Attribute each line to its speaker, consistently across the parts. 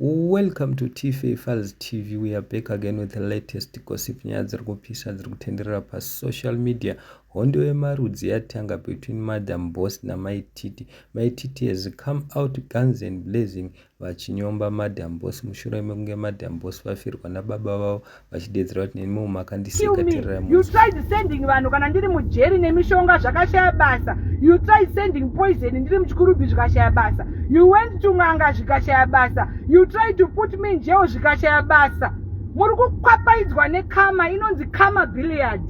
Speaker 1: Welcome to Tife Files TV. We are back again with the latest gossip nyaya dziri kupisa dziri kutenderera pasocial media. Hondo yemarudzi yatanga between Madam Boss naMai Titi. Mai Titi has come out guns and blazing vachinyomba Madam Boss mushure mekunge Madam Boss vafirwa nababa vavo vachideedzera kuti neniwo makandiseka you tried
Speaker 2: sending vanhu kana ndiri mujeri nemishonga zvakashaya basa you tried sending poison ndiri muchikurubhi zvikashaya basa you went to n'anga zvikashaya basa you tried to put me njeo zvikashaya basa muri kukwapaidzwa nekama inonzi kama billiard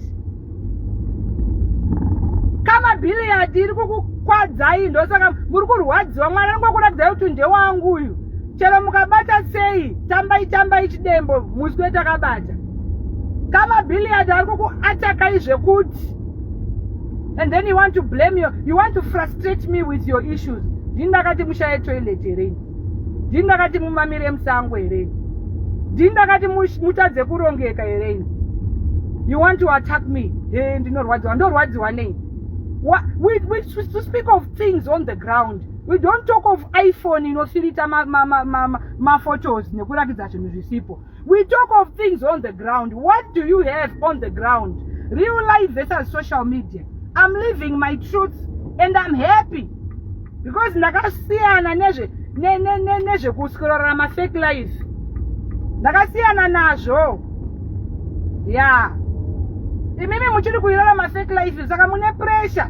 Speaker 2: kama billiard iri kukukwadzai ndosaka muri kurwadziwa mwana anongokuradzai kuti ndewangu uyu chero mukabata sei tambai tambai chidembo muswe takabata kamabhilliard ari kukuatakai zvekuti and then you want to blame you, you want to frustrate me with your issues ndini ndakati mushaye toilet here ini ndini ndakati mumamire musango here ini ndini ndakati mutadze kurongeka here ini you want to attack me he ndinorwadziwa ndorwadziwa nei we, we, we, to speak of things on the ground we don't talk of iphone inofirita maphotos nekurakidza zvinhu zvisipo we talk of things on the ground what do you have on the ground real life versus social media i'm living my truth and i'm happy because ndakasiyana nezve nezvekuskrora mafake life ndakasiyana nazvo ya imimi muchiri kuirara mafake life saka mune pressure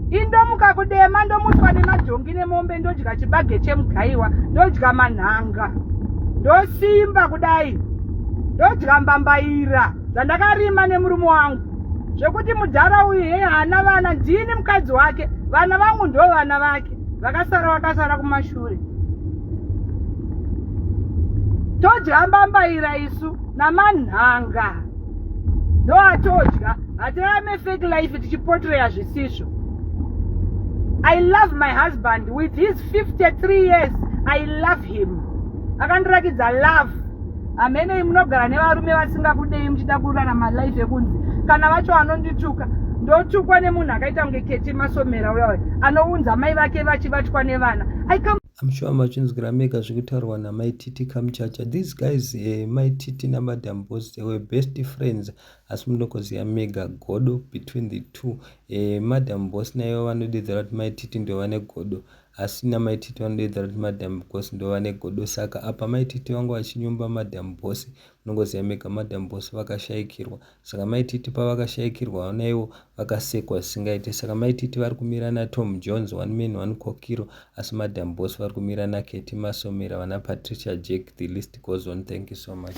Speaker 2: indomuka kudema ndomutwa nemajongi nemombe ndodya chibage chemugaiwa ndodya manhanga ndosimba kudai ndodya mbambaira zvandakarima nemurume wangu zvekuti mudhara uyu hei haana vana ndini mukadzi wake vana vangu ndo vana vake vakasara vakasara kumashure todya mbambaira isu namanhanga ndo atodya hatirame fake life tichipotreya zvisizvo i love my husband with his 53 years i love him akandirakidza love hamenei munogara nevarume vasingakudei muchida kurara malife ekunzi kana vacho anondituka ndotukwa nemunhu akaita kunge keti masomera uya anounza mai vake vachibatwa nevana I'm sure
Speaker 1: machinzwira mega zvekutaurwa namai Titi Kamchacha. These guys, eh, mai Titi namadam boss, they were best friends. Asi munokoziva mega godo between the two. Eh, madam boss naivo vanodedzera kuti mai Titi ndio vane godo. Asi namai Titi vanodedzera kuti madam boss ndio vane godo. Saka apa mai Titi vangu vachinyumba madam boss. Munongoziva mega madam boss vakashaikirwa. Saka maititi pavakashaikirwa naivo vakasekwa zvisingaite saka maititi vari kumira naTom Jones one man one kokiro asi madam boss vari kumira naKetty Masomera vana Patricia Jack the list goes on thank you so much.